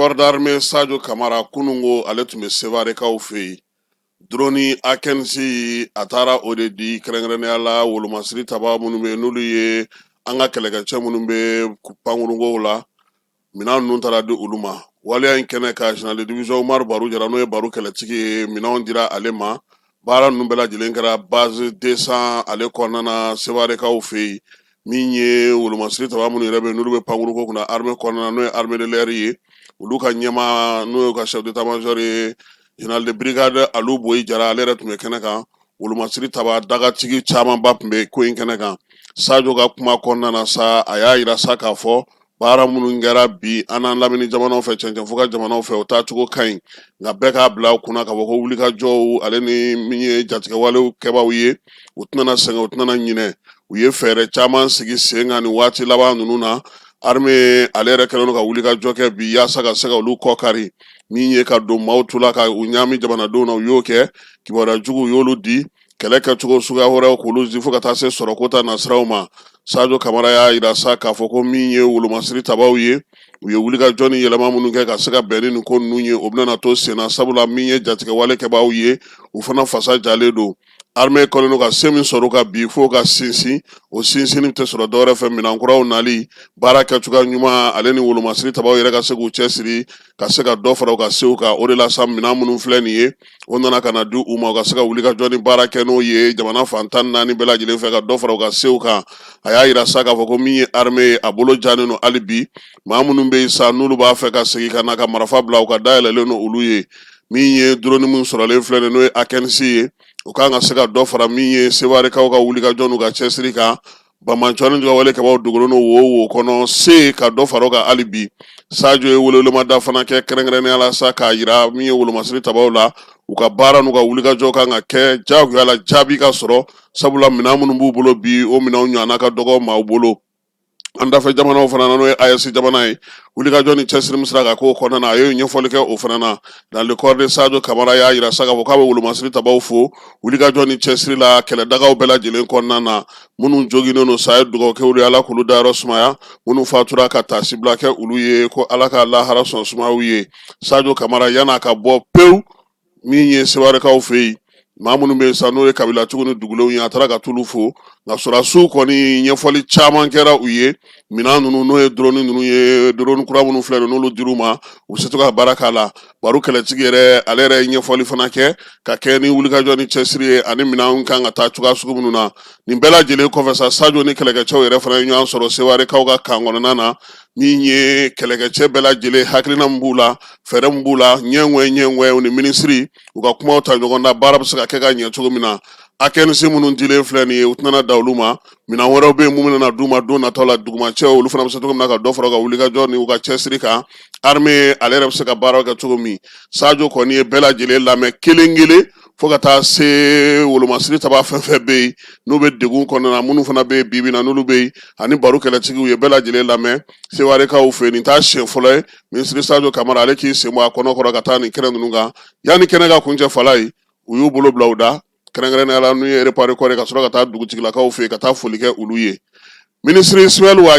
corps d'armée sajo kamara kunun ko ale tun bɛ sevarekaw fɛ yen dɔrɔni akinci a taara o de di kɛrɛnkɛrɛnnenya la wolomasiri taba minnu bɛ n'olu ye an ka kɛlɛkɛcɛ minnu bɛ pankurunkow la minɛn ninnu taara di olu ma waleya in kɛnɛ kan général de division umar baru jara n'o ye baru kɛlɛtigi ye minɛnw dira ale ma baara ninnu bɛɛ lajɛlen kɛra base deux cents ale kɔnɔna na sevarekaw fɛ yen min ye wolomasiri taba minnu yɛrɛ bɛ n'olu bɛ pankurunko kunna arme kɔnɔna n'o ye armée de l'air ye olu ka ɲɛmaa n'o ye ka chef d'état major ye général de brigade alu boyi jara ale yɛrɛ tun bɛ kɛnɛ kan wolomasiri taba dagatigi camanba tun bɛ ko in kɛnɛ kan sajo ka kuma kɔnɔna na sa a y'a yira sa k'a fɔ baara minnu kɛra bi an n'an lamini jamanaw fɛ cɛncɛnfuga jamanaw fɛ o taacogo ka ɲi nka bɛɛ k'a bila u kunna k'a fɔ ko wulikajɔw ale ni min ye jatigɛwalew kɛbaaw ye u tɛna sɛgɛn u tɛna ɲinɛ u ye fɛɛrɛ caman sigi sen kan nin waati laban ninnu na arme ale yɛrɛ kɛlen don ka wulikajɔ kɛ bi yaasa ka se ka olu kɔ kari min ye ka don maaw tula ka u ɲaami jamanadenw na u y'o kɛ kibaruya juguw y'olu di kɛlɛ kɛcogo suguya wɛrɛw k'olu di fo ka taa se sɔrɔko ta nasiraw ma sajo kamara y'a yira sa k'a fɔ ko min ye wolomasiri tabaw ye u ye wulikajɔ ni yɛlɛma minnu kɛ ka se ka bɛn ni nin ko ninnu ye o bɛna to senna sabula min ye jatigɛwale kɛbaaw ye u fana fasa jalen don armée kɛlen don ka se min sɔrɔ u kan bi fo u ka sinsin o sinsinni tɛ sɔrɔ dɔwɛrɛ fɛ minɛn kuraw nali baara kɛcogoya ɲuman ale ni wolomasiri tabaw yɛrɛ ka se k'u cɛsiri ka se ka dɔ fara u ka sew kan o de la sa minɛn minnu filɛ nin ye o nana ka na di u ma u ka se ka wulikajɔ ni baara kɛ n'o ye jamana fan tan naani bɛɛ lajɛlen fɛ ka dɔ fara u ka sew kan a y'a yira sa k'a fɔ ko min ye arme ye a bolo janen don hali bi maa minnu bɛ yen sa n'olu b'a fɛ ka segin ka na ka marifa bila u ka da yɛlɛlen don olu ye min ye drone min sɔrɔlen filɛ nin n'o ye akinci ye o ka kan ka se ka dɔ fara min ye sevarekaw ka wulikajɔ n'u ka cɛsiri kan banbaanci ni jatigɛwale kɛbaaw dogolen don wo o wo kɔnɔ se ka dɔ fara o kan hali bi sajo ye waleɲumandɔn fana kɛ kɛrɛnkɛrɛnnenya la sa k'a yira min ye wolomasiri tabaw la u ka baara n'u ka wulikajɔ kan ka kɛ jagoya la jaabi ka sɔrɔ sabula minɛn minnu b'u bolo bi o minɛn ɲɔgɔn ka dɔgɔ maaw bolo an dafɛ jamanaw fana na n'o ye AES jamana ye wulikajɔ ni cɛsiri min sera ka kɛ o kɔnɔna na a ye ɲɛfɔli kɛ o fana na général de corps d'armée sajo kamara y'a yira sa k'a fɔ k'a bɛ wolomasiri tabaw fo wulikajɔ ni cɛsiri la kɛlɛdagaw bɛɛ lajɛlen kɔnɔna na minnu joginnen don sa a ye dugawu kɛ olu ye ala k'olu dayɔrɔ sumaya minnu fatura ka taasibila kɛ olu ye ko ala ka lahara so sumaya u ye sajo kamara yan'a ka bɔ pewu min ye sevarekaw fɛ yen maa minnu bɛ sa n'o ye kabilatigiw ni dugulenw ye a taara ka t'olu fo nka sɔrɔdasiw kɔni ɲɛfɔli caman kɛra u ye minɛn ninnu n'o ye drone ninnu ye drone kura minnu filɛ nin n'olu dir'u ma u bɛ se to ka baara k'a la baro kɛlɛtigi yɛrɛ ale yɛrɛ ye ɲɛfɔli fana kɛ ka kɛ ni wulikajɔ ni cɛsiri ye ani minɛn kan ka taa cogoya sugu minnu na nin bɛɛ lajɛlen kɔfɛ sa sajo ni kɛlɛkɛcɛw yɛrɛ fana ye ɲɔgɔn sɔrɔ sewarekaw ka kan kɔnɔna na min ye kɛlɛkɛcɛ bɛɛ lajɛlen hakilina min b'u la fɛɛrɛ min b'u la ɲɛ ɲɛ ni minisiri u ka kumaw ta ɲɔgɔn na baara bɛ se ka kɛ ka ɲɛ cogo min na Akinci minnu dilen filɛ nin ye u tɛna dan olu ma minɛn wɛrɛw bɛ yen min bɛna d'u ma don nataw la dugumacɛw olu fana bɛ se cogo min na ka dɔ fara u ka wulikajɔ ni u ka cɛsiri kan armée ale yɛrɛ bɛ se ka baara kɛ cogo min Sajo kɔni ye bɛɛ lajɛlen lamɛn kelen kelen fo ka taa se wolomasiri taba fɛn fɛn bɛ yen n'u bɛ degun kɔnɔna na minnu fana bɛ yen bi bi in na n'olu bɛ yen ani baro kɛlɛtigiw ye bɛɛ lajɛlen lamɛn sewarekaw fɛ yen nin t'a siɲɛ fɔlɔ ye minisiri sajo kamara ale k'i sen bɔ a kɔnɔ kɔrɔ ka taa nin kɛnɛ ninnu kan yanni kɛnɛ ka kuncɛ fala ye u y'u bolo bila u da kɛrɛnkɛrɛnnenya la n'o ye repas de corps ka sɔrɔ ka taa dugutigilakaw fɛ yen ka taa foli kɛ olu ye minisiri isimayɛli wa